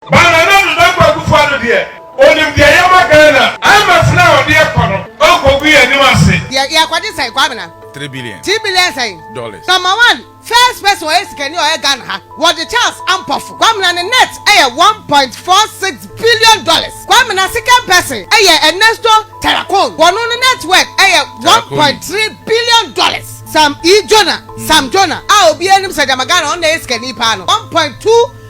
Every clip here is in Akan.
Ba Nana Dodo Kwaku Fa no deɛ onim deɛ yɛma Ghana. IMF no a ɔde ɛkɔ no ɔnkɔgu yɛn anim ase. Deɛ yɛkɔgye sɛn Kwabena? Three billion. Three billion sɛn? Dollars. Number one first person ɔyɛ sikani a ɔyɛ Ghana ha wɔgye Charles Ampofo. Kwabena ne net yɛ one point four six billion dollars. Kwabena second person yɛ Ernesto Terracone wɔno no net worth yɛ one point three billion dollars. Sam E. Jonah, Sam Jonah, a obiara nim sɛ gyama Ghana ɔno na ɛyɛ sikani paa no one point two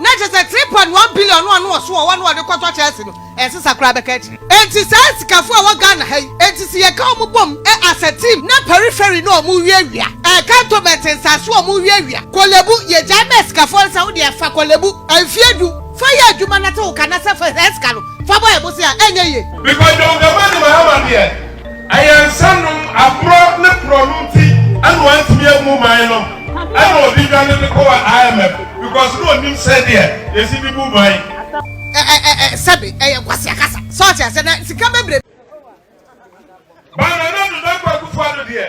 Na kyerɛ sɛ three point one billion no a na ɔso wɔ hɔ a na ɔde kɔtɔ Chelsea no, ɛnsesa koraa bɛka akyire. Enti saa asikafo a ɛwɔ Ghana ha yi, enti sɛ yɛka wɔn bom as a team na periphery no a wɔrewiawia, ɛɛ cantonment nsase a wɔrewiawia, Korle Bu, yɛgyae ma asikafoɔ no sɛ wo deɛ fa Korle Bu mfeɛ du fa yɛ adwuma na te wo ka na sɛ fa saa sika no fa bɔ yɛn bosea a, ɛnyɛ yie. Mepɛ John Dramani Mahama deɛ. Ayaresa nom aborɔ ne korɔno nti na wantumi ammu man no na ɔde dwane de kɔɔ IMF because na ɔnim sɛdeɛ yɛsi de bu man. Sɛbe ɛyɛ kwasia kasa sɛ ɔte asɛ na sika bebrebe. Ba Nana Ado Dankwa Akufo Ado deɛ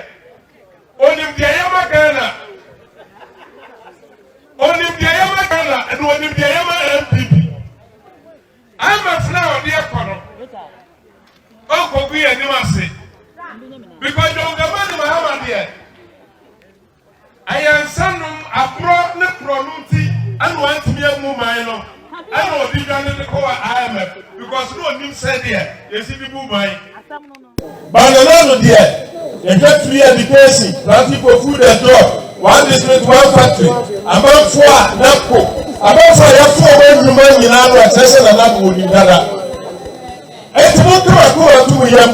ɔnim deɛ yɛma Ghana ɔnim deɛ yɛma Ghana ɛna ɔnim deɛ yɛma NPP. Amafra a ɔde ɛkɔ no, ɔnkɔgu yɛn anim ase. Because John Dramani Mahama deɛ, ɛyɛ nsanom aborɔ ne korɔno nti ɛna wantumi amu man no ɛna ɔde dwane de kɔ wɔ IMF because na ɔnim sɛdeɛ yɛsi de bu man. Banyana no deɛ, yɛhwɛ free education, planting for food and job, one district one factory, amanfoɔ a NAPCO, amanfoɔ a yɛfoɔ wɔn nnwuma nyinaa no ɛkyerɛ sɛ na NAPCO wɔ nim dada. Eti mo kama ko wɔ to mo yam.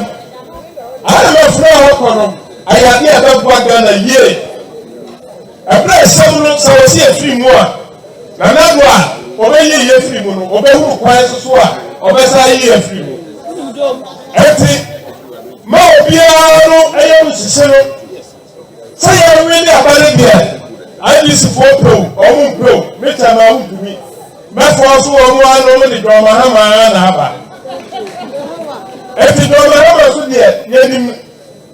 Adeɛ ma fura hɔ kɔ no, ayɛ adeɛ a ɛbɛboa Ghana yie. Ɛberɛ a asɛm no, sɛ wɔsi afiri mu a, na n'ano a ɔbɛyi yi afiri mu no, ɔbɛhunu kwan nso so a ɔbɛsan ayi afiri mu. Ɛnti, ma obiara no ɛyɛ no hyehye no, sɛ yɛnwe ne aba no deɛ, IBCfoɔ pɛ o, wɔn mpɛ o, me kyɛ ma wontumi. Mɛfoɔ nso wɔn anom de dɔmahama na aba. Ɛnti dɔmahama nso deɛ, yɛnim.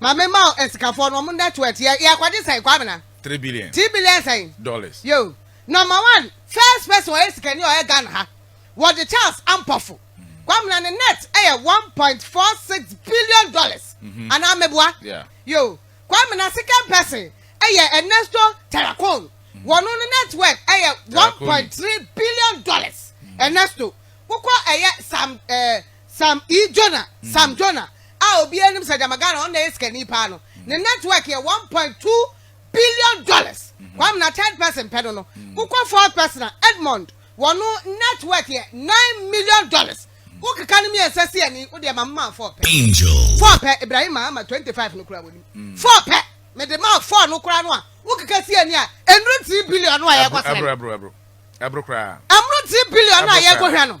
Mame ma wo nsikafoɔ no ɔmo net worth yɛ yɛ akɔgye sɛn kwabena. Three billion. Three billion sɛn. Dollars. Yoo number one first person ɔyɛ sikani a ɔyɛ Ghana ha wɔgye Charles Ampofo kwabena ne net ɛyɛ one point four six billion dollars mm-hmm. anaa meboa yeah. yoo kwabena second person ɛyɛ Ernesto Terracon mm-hmm. wɔn no net worth ɛyɛ one point three billion dollars mm-hmm. Ernesto wokɔ ɛyɛ sam ɛɛ. Eh, Sam E. Jonah, Sam Jonah, a obiara nim sɛ gyama Ghana ɔno na ɛyɛ sikani paa no, ne network yɛ one point two billion dollars. Kwame na third person pɛ no no, wokɔ fourth person a, Edmond, wɔno network yɛ nine million dollars. Wokeka no mmiɛnsa si ani, wo deɛ ma memaa four pɛ. Angel. Four pɛ, Ibrahim Mahama twenty five no koraa wɔnim. Four pɛ, mede maa four no koraa no a, wokeka si ani a, ɛnnuru three billion no a yɛrekɔsrɛ no. Ɛboro, ɛboro, ɛboro, ɛboro koraa. Ɛmmoro three billion no a yɛrekɔhwɛ no.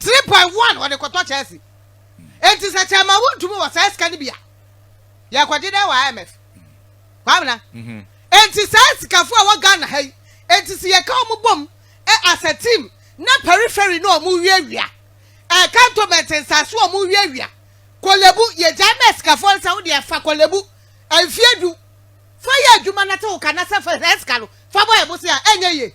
three point one wɔde kɔtɔ Chelsea eti sɛ kyɛnma wuntumi wɔ saa sika no bi a yɛkɔgye dɛ wɔ IMF kwamina mhm. eti saa sikafo a wɔ Ghana ha yi eti si yɛka wɔn bom e, as a team na periphery na wɔn wiawia ɛɛ e, cantonment nsaase wɔn wiawia kɔlɛbu yɛgya mɛ sikafo nsa wo deɛ fa kɔlɛbu mfie du fa yɛ adwuma na te wo ka na sɛ fa sika no fa bɔ ɛbo se a ɛnyɛ yie.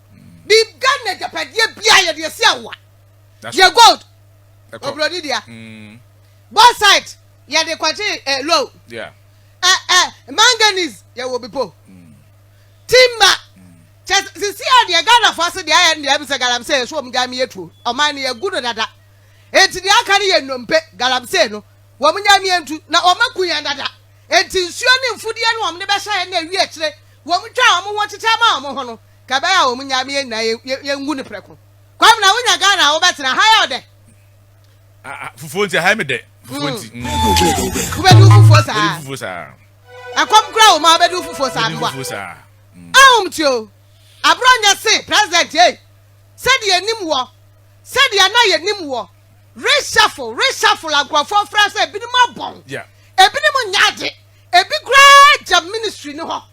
biribiara na agyapadeɛ biara yɛde asi awoa yɛ gold oburoni deɛ mm. both side yɛde kɔgye ɛ eh, low ɛ eh, ɛ eh, manganese yɛwɔ bi po mm. timba mm. kyɛ sisi a deɛ ghanafoɔ ase deɛ ayɛ no deɛ ɛbi sɛ galamsey yɛ so wɔn gya mi yɛ tuo ɔman no yɛ gu no dada eti deɛ aka no yɛ nnompe galamsey no wɔn gya mi yɛ ntu na wɔn aku yɛn dada eti nsuo ne mfudeɛ no wɔn de bɛhyɛ yɛn na ewi akyire wɔn twa wɔn ho kyekyɛ ma wɔn ho no. Ka bɛyɛ a wɔn nya me yɛn nyinaa yɛ yɛ ngu no prɛko. Kwabena wo nya Ghana a wo bɛ tena ha yɛ ɔdɛ. Ah ah fufuo nti aha yɛ me dɛ fufuo nti. Mm. Wo bɛ di wo fufuo saa. Bɛ di fufuo saa. Ɛkɔm kura wo ma wo bɛ di wo fufuo saa mboa. Bɛ di fufuo saa. Mm. Ahom ti o. Aborɔ nyɛ se president ei. Sɛdeɛ yɛnim wɔ. Sɛdeɛ na yɛnim wɔ. Reshuffle reshuffle a nkurɔfoɔ frɛ sɛ ebinom abɔn. Yeah. Ebinom nyɛ ade. Ebi koraa gyam ministry no hɔ.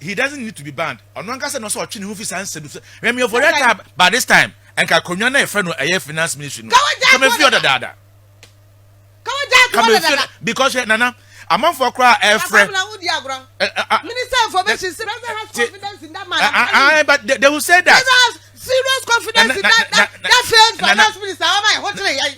He doesn't need to be banned. Ɔno ankasa na ɔsɛ ɔtwe ne ho fi saa nsɛm so. Hwɛ me ɔfɔre ata by this time. Ɛnka akonnwa no a yɛfrɛ no ɛyɛ finance ministry no. Ka me fi hɔ dadaada. Ka me fi hɔ because hwɛ nana amanfoɔ koraa ɛfrɛ. Minister information sɛ president has confidence in that man. Ah ah but they, they will say that. Serious confidence in that that, that failed finance minister.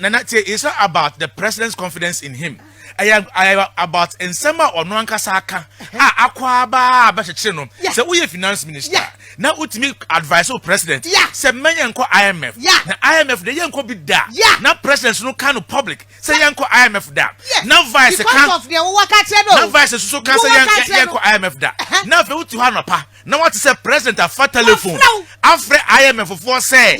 Nana, it's not about the president's confidence in him. ɛyɛ ɛyɛ about nsɛm a ɔno ankasa aka a akɔ aba a bɛkyekyere no sɛ woyɛ finance minister na wotumi advice o president sɛ mmɛ yɛn nkɔ imf na imf de yɛn nkɔ bi da na president no ka no public sɛ yɛn nkɔ imf da na vice ka na vice soso ka sɛ yɛn nkɔ imf da na afei wotu hɔ anɔpa na wate sɛ president afa telephone afrɛ imf foɔ sɛ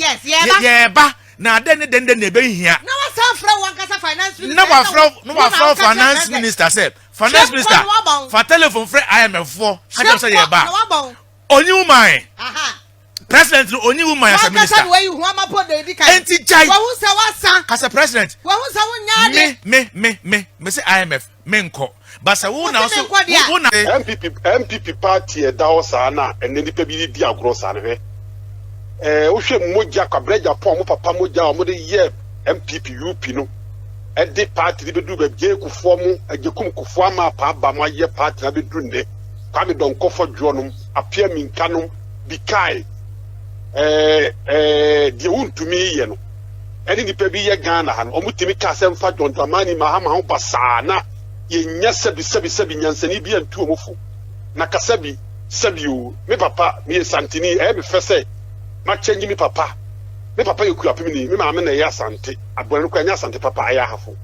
yɛɛba Na adɛn ne dɛn dɛn na ɛbɛhia? Na wasan frɛ wankasa finance minister. Na wafrɛ na wafrɛ finance minister sɛ finance minister fa telephone frɛ IMF foɔ kakyɛm sɛ yɛ ba. Onyi wo man. President no onyi wo man as a minister. Wankasa na wayi ho ama po na edi kan. Enti gyae. Wahu sɛ wasan. Kasa president. Wahu sɛ wonya adeɛ. Me me me me me sɛ IMF. Menkɔ. But sɛ wo na wo so wo na. NPP NPP party a ɛda hɔ saa na ɛnɛ nipa bi redi agorɔ saa no hwɛ ɛɛ wohwɛ mogya Kwabena Agyapong ɔmo papa mogya a ɔmo de yɛ NPP UP no ɛde party de bɛduru baabi Jay Kufuor mo Agyekum Kufuor ama apa aba mo ayɛ party no abɛduru nnɛ Kwame Dɔnkɔfɔ Dwoɔ nom Appiah Minka nom Bikae ɛɛ ɛɛ deɛ wontumi yɛ no. ɛne nnipa bi yɛ Ghana ha no, wɔn tumi ka asɛm fa John Dramani Mahama ho basaa na yɛnya sɛbi sɛbi sɛbi nyansani bi antu wɔn fo na ka sɛbi sɛbi oo me papa me yɛ santini ɛyɛ me fɛ sɛ ma kyɛngyi me papa me papa yɛ kuapem ni me maame na ɛyɛ asante abɔne no kora ɛnyɛ asante papa ɛyɛ ahafo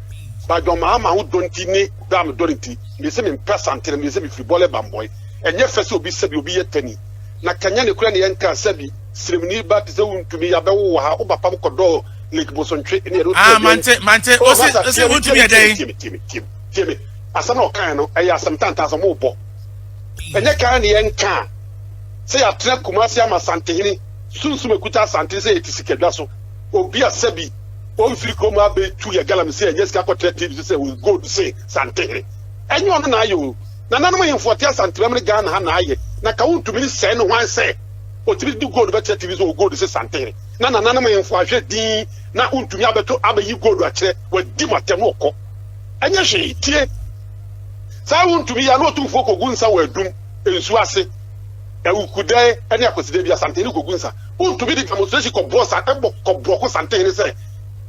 ba John Mahama ho dɔ nti ne dɔ a me dɔ ne nti me yɛ sɛ me mpɛ asante na me yɛ sɛ me firi bɔlɛ bambɔe ɛnyɛ fɛ sɛ obi sɛbi obi yɛ tani na kanya ne kora ne yɛn ka sɛbi Sremni ba te sɛ wo ntumi yabɛwo wɔ ha wo ba pam kɔdɔɔ lake bosontwe ne ɛno ah mante mante oh, ose ose wo ntumi yɛ dɛn tie me tie me tie me tie me asɛm na ɔkan no ɛyɛ asɛm tantan sɛ mo bɔ ɛnyɛ kan ne yɛn ka sɛ yɛatena kumase ama santehene sunsum ekuta asante sɛ yɛte sikadwa so obi a sɛbi ɔmfiri kurom abɛtu yɛ galam sɛ ɛnyɛ sika kɔtena tv so sɛ wɔ gold se santehene ɛnyɛ ɔno na ayɛ o nananom hemfoɔ te asantebam ne ghana ha na ayɛ na ka wontumi ne sɛe no hwan sɛ Otumi de gold bɛkyerɛ tiri so wɔ gold se santen na nananom hemfo ahwɛ dinn na wontumi abɛto abɛyi gold akyerɛ, wadi mo atɛm na ɔkɔ. Ɛnyɛ hwee, tie! Saa a wontumi yɛ na otumfoɔ kogu nsa wɔ adum, nsu ase, awukudɛɛ ne akwaside bi a santen no kogu nsa. Wontumi de demonstration kɔboɔ sa ɛbɔ kɔboɔ ko santen no sɛ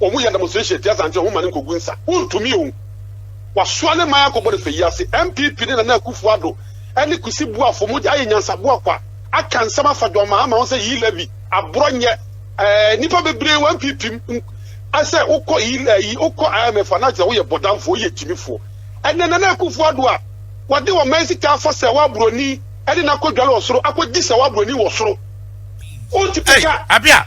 wɔn yɛ demonstration atia santen wɔn ma no nkogu nsa. Wontumi o. Wasoa ne man akɔbɔ no fɛ yi ase. NPP ne Nana Akufo-Addo ne Kusi boafo mogya ayɛ nyansabua kwa, aka nsɛm afa John Mahama ho sɛ Yi levy, aborɔ nyɛ. Ɛɛ, nnipa bebree wɔ NPP mu a sɛ wokɔ Yi, ɛyi, wokɔ IMF a na kyerɛ sɛ woyɛ bɔdamfoɔ, woyɛ gyimifoɔ. Ɛnnɛ, Nana Akufo-Addo a wɔde ɔman sika afa sɛ wɔaborɔni de no akɔdware ɔsoro, akɔgye sɛ wɔaborɔni wɔ soro. Wonte pɛ ka. Ei, Abia!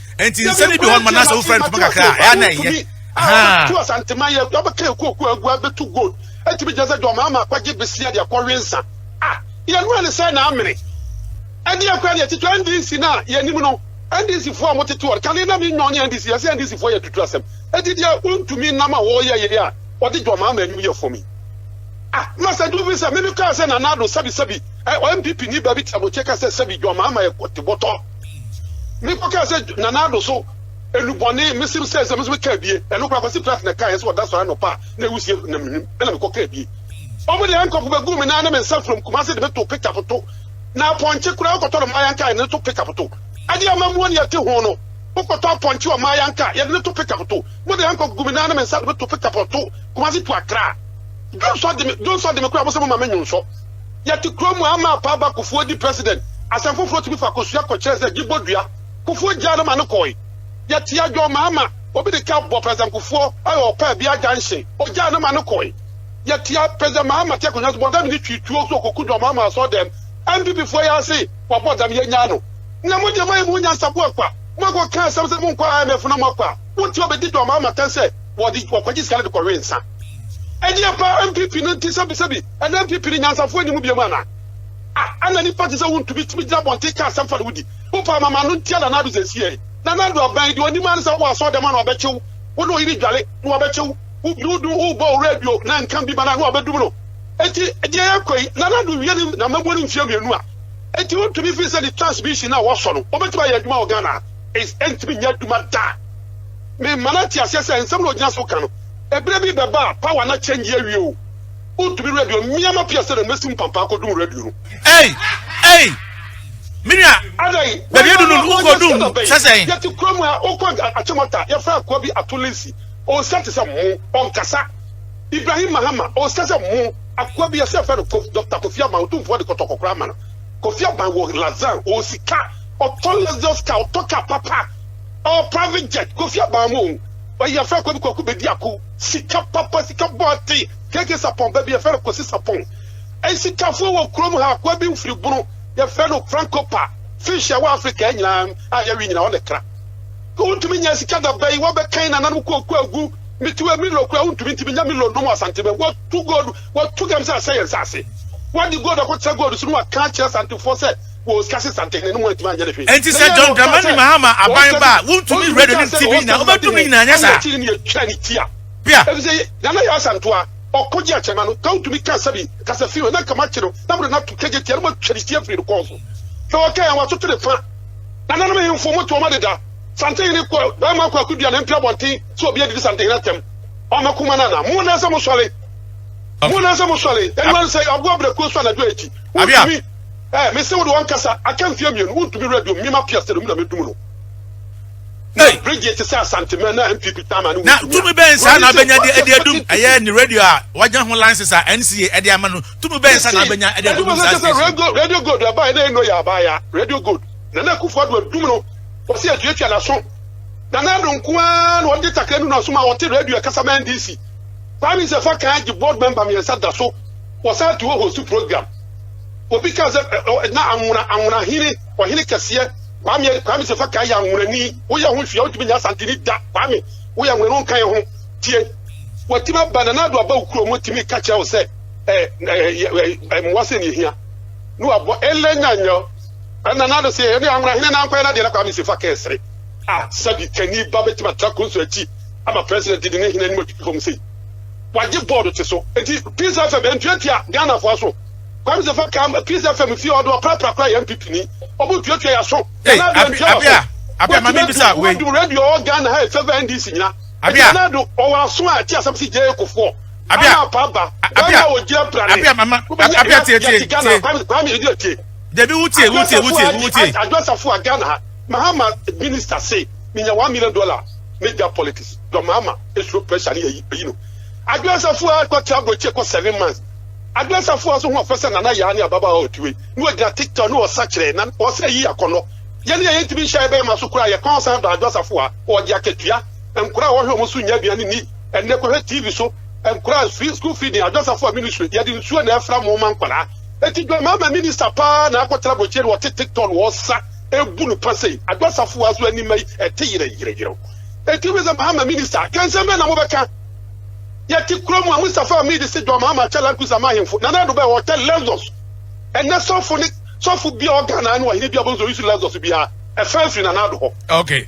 nti nsɛm no bi hɔ noma nasɛ wofrɛ no poma kakra a ɛa na ɛyɛ to asantema yɛ wabɛka ɛkuokuo agu abɛtu gold ɛtumi gyina sɛ dɔn maama akɔgye besia de akɔwe nsa a yɛnura ne sɛ na amene ɛdeɛ kora deɛ titwa ndc no a yɛnim no ndc foɔ a motete ɔ kane na menwɔn ne ndc yɛsɛ ndc foɔ yɛ tutu asɛm ɛti deɛ wontumi nam a wɔyɛ yɛ a wɔde dɔn maama anim yɛ fam yi ah masa du bi sɛ meme kaa sɛ nanado sɛbi sɛbi ɔ mpp ni baabi tiamokyɛ ka sɛ sɛbi dɔn maama yɛ kɔte bɔtɔ Mekɔ kaa sɛ Nana Addo so enubɔne mesim sɛ sɛ meso me kaa bie ɛno kora kwasi plat na kaa yɛ sɛ ɔda sɔre anɔpa a na ewusie na menim ɛna mekɔ kaa bie ɔmo de ɛnkɔpo bɛgu me nan ne me nsa from Kumasi de me to pick up to na apɔnkye kora ɔkɔtɔ no maayan kaa yɛ ne to pick up to ɛde ama muo ne ɛte ho no wokɔtɔ apɔnkye wɔ maayan kaa yɛ de ne to pick up to mo de ɛnkɔ gu me nan ne me nsa de me to pick up to Kumasi to Accra Johnson de me Johnson de me kora mo sɛ mo ma me nyonsɔ Yɛte kuro mu a ama apa aba Kufuor di president asɛm foforɔ tumi fa Kosua kɔkyerɛ sɛ gye bɔ dua Kufuor gyaa no ma no kɔɔe Yɛte adwɔn ma ama obi de car bɔ president Kufuor ɔyɛ ɔpɛ bia junction ɔgyaa no ma no kɔɔe Yɛte a president Mahama te akonwa so bɔdam ne twi tuo so ɔkɔku dɔn Mahama asɔɔ dɛm NPP foɔ yɛ ase wabɔ dam yɛnyaa no Nea mo deɛ moayɛ mo ho nyansaboa akwa mo akɔ ka asɛm sɛ monkɔ IMF na mo akɔ a wote ɔbɛdi dɔn Mahama kan sɛ wɔde wɔkɔgye sika no de kɔwee nsa Ɛdeɛ paa NPP no nti sɛbi sɛbi. Ɛnnɛ mprempren nyansafo nni mu bio anaa? Ah, ɛna nnipa te sɛ wo ntumi tumi gyina abɔnten ka asɛm fa ne ho di. Wopɛ ama m'ano ntia Nana Addo sɛ esiei? Nana Addo abɛn, deɛ ɔnim ara ne sɛ wowɔ asɔɔdɛm a na wabɛkye wo, wo ne ɔyere dwale na wabɛkye wo, wo biri wo do, wobɔ wo radio na nka bi ma no a na wabɛdum no. Enti deɛ yɛkɔ yi, Nana Addo wie ne na mmabuo no mfeɛ mmienu a, enti wontumi firi sɛ ne transmission no a wɔsɔ no, ɔbɛtumi ayɛ adwuma wɔ Ghana ha? Is, ɛntumi nyɛ adwuma da. Mema no ate aseɛ sɛ nsɛm na ɔgyina so ka no, ɛberɛ bi bɛba a power no akyɛngye awie o. Wontumi radio mmea ma pia sɛdeɛ mɛsi mpampaa kɔdum radio no. Ei! Ei! Me nua, Adɛn? baabi adu no wokɔ Wayɛ dum sɛda bɛn? sɛ sɛn? Yɛte kura mu a wokɔ Agya Akyemata, yɛfrɛ akoa bi Ato Linsi. Ɔnsɛ te sɛ mo. Ɔnkasa. Ibrahim Mahama, ɔnsɛ sɛ mo. Akoa bi a sɛ yɛfrɛ no Kof, Dɔkta Kofi Aban, Otumfoɔ de kɔtɔkɔ koraa ma no. Kofi Aban wɔ Lazan, ɔwɔ sika. Ɔtɔ Lexus car, ɔtɔ car papa. Ɔwɔ private jet. Kofi Aban mo o. Ɔyɛ yɛfrɛ akoa bi Kwaku Bedi Ako. Sika papa, sika bɔɔte, keke sapɔn ba bi, yɛfrɛ no Kwasi Sapɔn. Nsikafoɔ wɔ kurom ha, akoa bi mfiri bunu, yɛfrɛ no Franco Pa. Fish a ɛwɔ Afrika ha nyinaa a yɛwe nyinaa, ɔna ɛtra. Wontumi nnya sika da bɛn, wɔabɛkan nananom kɔɔku agu. Mitiwei Milo koraa wontumi ntumi nya Milo nnom wɔ Asanteman. Wɔatu gold, wɔatu gam sɛ asɛe yɛn nsase. Wɔde gold akɔtra gold so na wɔaka akyerɛ Asantefoɔ sɛ, wɔ sika sesanten no mu antumi anyɛ no hwee. Enti sɛ John Dramani Mahama aban ba a, wontumi radio ne TV nyinaa, wobɛdum ne nyinaa, anyɛ saa? Bia. Abia. Eh mese wode wankasa aka mfeɛ mmienu wontumi radio me ma piase no mu na mɛdum no na radio te sɛ asantemɛ na mpp tama ne na tumi bɛn saa na abɛnya de ɛde adum ɛyɛ ne radio a wagya ho license a NCA ɛde ama no tumi bɛn saa na abɛnya ɛde adum saa station radio gold ɛbaeɛ na ɛno yɛ abaeɛ radio gold na na akufo ado adum no wɔsi atuatua n'aso na na ado nko ara na ɔde takra nu n'aso ma ɔte radio ɛkasa ma NDC prime minister fa kan agye board member mmiɛnsa da so wɔsan to hɔ host program Obi kaa sɛ, na anwona, anwona hene, ɔhene kɛseɛ, Kwame, Kwame Sefakaa yɛ anwonani. Woyɛ ho hwee a, wontumi nyɛ Asanteni da. Kwame, woyɛ anwona no nka yɛ ho. Tie. Watumi aba, Nana Addo aba wo kurom, watumi ka kyerɛ wo sɛ mmoa sɛ ne ɛhia, ne wabɔ ɛlɛ nya nyɛ. Nana Addo se, ɛne anwona hene na nkɔyɛ n'adeɛ, na Kwame Sefakaa sere. Ah, sɛbi kani ba bɛtumi atra konso akyi ama president didi ne hene anim atutu fam sei? Wagye board te so. Enti Peace FM, ɛntuatua Ghanafoɔ aso. Kwamse fa ka ma peace fm fie ɔde ɔpra pra kora yɛn PP ni ɔmo tuatua yɛ so Nana Addo antua wɔ so wotumi atu wo adum radio ɔwɔ Ghana ha ɛfɛfɛ NDC nyina ɛti Nana Addo ɔwɔ aso a ɛte asɛm si gyɛɛ kofoɔ ama apa aba wɛma wɔ gyina prane wobɛnya ɛna yɛte Ghana Kwame Kwame ɛdi atie Debi wutie wutie wutie wutie Addo Safoa Ghana ha Mahama minister se minya one million dollar media politics dɔ Mahama esuro pressure ne yɛ yi no Addo Safoa kɔ tra bro kye kɔ seven months Adwensafo a so ho ɔfɛ sɛ Nana Yaa ne ababaawa a ɔtue na ɔgyina TikTok no ɔsa kyerɛ na ɔsɛ ayi akɔnnɔ. Yɛne a yɛntumi nhyɛ yɛn bɛrima so koraa yɛkɔn san dɔ adwensafo a ɔgye akatua, nkora a wɔhwɛ wɔn so nnya aduan nni, ɛnɛ kɔhwɛ TV so, nkora a free school feeding, adwensafo a ministry yɛde nsuo na ɛfra mo ma nkwadaa. Enti Dwamama minister paa na akɔtena aburokyire na ɔte TikTok na ɔsa ɛbu no pa sei. Adwensafo a so ani mma yi ɛte yerɛyerɛyerɛw. Enti wobisa Mahama minister a kɛnsɛm bɛn na mobɛka? Yɛte kurom a, Mustafa Hamid se John Mahama akyɛ Land Cruiser ama ahemfo. Nana Addo bɛɛ, ɔkyɛ Lexus. Ɛnnɛ sɔfo ne sɔfo biara a ɔwɔ Ghana ne ɔhene biara, wobɛhu sɛ ɔyusu Lexus biara, ɛfaa firi Nana Addo hɔ. Okay.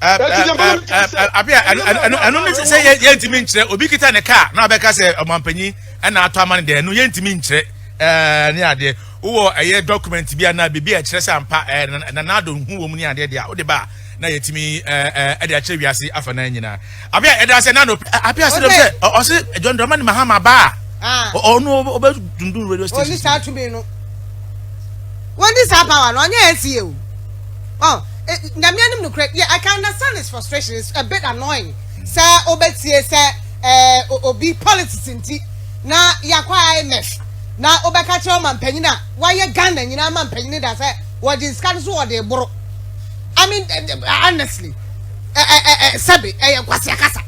Ɛti deɛ mama metumi sɛ. Abia, ɛno ne sɛ yɛntumi nkyerɛ, obi kita ne kaa na abɛka sɛ ɔmampanyin ɛna atɔ ama no deɛ, ɛno yɛntumi nkyerɛ ne adeɛ. Wowɔ ɛyɛ document bi anaa biribi a ɛkyerɛ sɛ ampa Nana Addo ho wɔ mu ne adeɛ deɛ a, wode ba a, na yɛtumi ɛde akyerɛ wiase afa no nyinaa. Abia ɛda ase na no apia sɛ dɛm sɛ ɔse John Dramani Mahama ba a ah. ɔno ɔbɛ dundun radio station. Oni saa tumi no. Oni saa power no ɔnyɛ NCA o. Oh, eh, nyame anim no korɛ. Yeah, I can understand his frustration. It's a bit annoying. Sɛ ɔbɛtie sɛ eh, obi politics nti na yakɔ IMF na ɔbɛka kyerɛ ɔma mpanyin a wayɛ Ghana nyinaa ma mpanyin da sɛ wɔde nsika no so wɔde boro. I mean, eh, eh, honestly. ɛ ɛ ɛ ɛ sɛbe ɛyɛ nkwasia kasa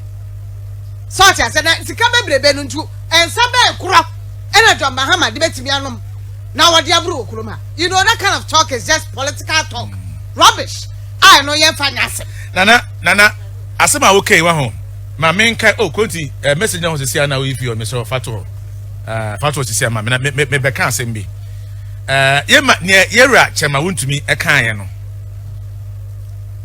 sɛ ɔte ase na sika bebrebe no nti nsa bɛn korɔ ɛna John Mahama de bɛtumi anom na wɔde aboro wɔ kurom ha you know that kind of talk is just political talk rubbish a ɛno yɛmfa nyɛ asɛm nana nana asɛm a wokɛi wa ho ma menka o oh, kɔnti eh, message na ho sisi a na woyi fie ɔ mesɛ fatoɔ eh, fatoɔ sisi a ma me na mebɛka asɛm bi eh, yɛma neɛ yɛwura kyɛma wontumi ɛkaeɛ no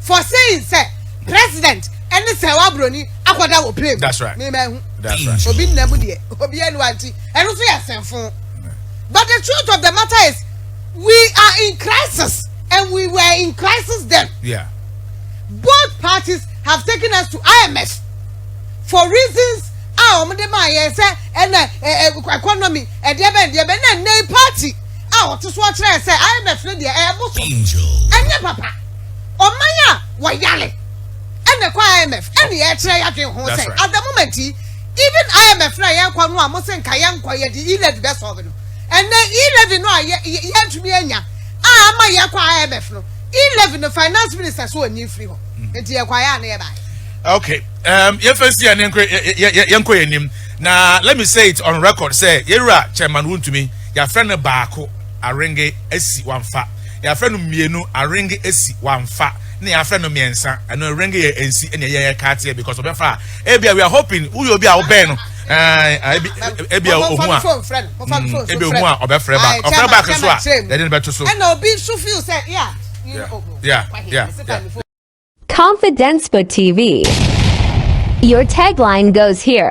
For saying sɛ president ɛne sɛɛwa broni akɔda wɔ plane mu me ma ɛhu obi nna mu deɛ obi ɛnuwa nti ɛno nso yɛ sɛnfo but the truth of the matter is we are in crisis and we were in crisis then yeah. both parties have taken us to IMF for reasons a wɔn de maa yɛn sɛ ɛna ɛɛ economy ɛdeɛ bɛn deɛ bɛn na nne party a wɔte so ɔkyerɛ sɛ IMF no deɛ ɛyɛ boso ɛnyɛ papa. ɔman a wɔyare ɛna ɛkɔ IMF ɛna yɛkyerɛ yɛadwen ho sɛ at the moment yi even IMF na yɛkɔ no a mo se nka yɛnkɔ yɛde e-levy bɛ sɔɔbe no ɛnɛ e-levy no a yɛntumi anya a ama yɛkɔ IMF no e-levy no finance minister so ɔnyi mfiri hɔ mm. nti yɛkɔ ayɛ a na yɛbae okay um, yɛmfa si a ne yɛnkɔ yɛ anim na let me say it on record sɛ yɛwura chairman wontumi yɛafrɛ no baako arenge asi wamfa Yɛafrɛ no mmienu, aring esi, wamfa, na yɛafrɛ no mmiɛnsa, ɛno aring yɛ ensi, ɛna ɛyɛ yɛ kaateɛ because ɔbɛfa a, ebia we are hoping woyɛ obi a wobɛn no, ɛɛ ebi ebi a ohun a, mm, ebi ohun a ɔbɛfrɛ back, ɔfrɛ back nso a, yɛde no bɛto so. Ɛna obi nso feel sɛ yeah, yeah, oh, oh, yeah, yeah, yeah. Confidence for TV. Your tagline goes here.